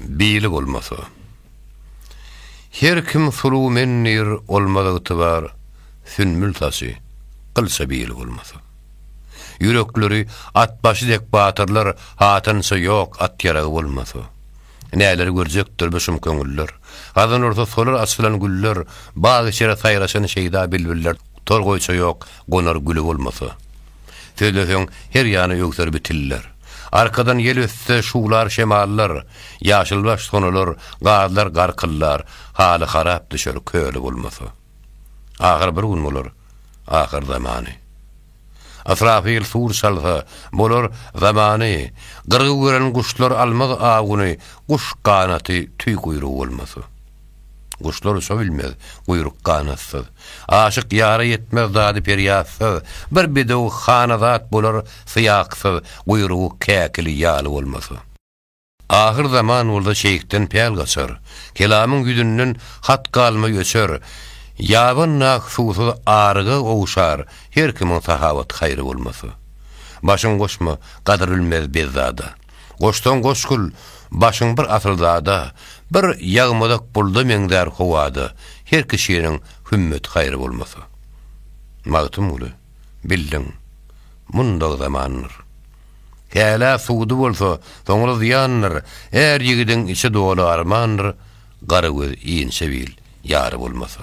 Bili bolmasa. Her kim suluw men diýr olmaz ygtybar Sünbül saçy gylça bili bolmasa. Ýürekleri at başy dek batyrlar Hatynça ýok at ýaragy bolmasa. Näleri görjekdir bu şum köňüller Gazan ursa solar açylan güller Bag içre saýraşan şeýda bilbiller Tor goýça ýok gonar güli bolmasa. Sözleseň, her ýany öwser bi tiller. Arkadan ýel ötse, şuwlar şemallar, Ýaşylbaş sonular, gazlar garkyllar, Haly harap düşer, köli bolmasa. Ahyr bir gün bolar, ahyr zamany. Ysrafyl sur çalsa, bolar zamany, Gyrgy gören guşlar almaz awuny, Guş ganaty, tüý guýrugy bolmasa. Guşlar uça bilmez, guýruk ganatsyz. Aşyk ýara ýetmez dady perýatsyz, Bir bedew hanazat bolar syýaksyz, Guýrugy käkili ýaly bolmasa. Ahyr zaman bolsa şeýhden päl gaçar, Kelamyň ýüzünden hat galmay öçer, Ýaban nak suwsuz aryga gowşar, Her kimiň sahawat-haýry bolmasa. Başyň goşma, gadyr bilmez bezzada. Goşsaň goş gül, başyň bir asyl zada, Bir ýagmadak bulda meňzär howada, Her kişiniň hümmet-haýry bolmasa. Magtymguly, bildiň, mundag zamandyr. Hälä suwdy bolsa, soňra zyýandyr, Är ýigidiň içi doly armandyr, Gara göz inçe bil, ýary bolmasa.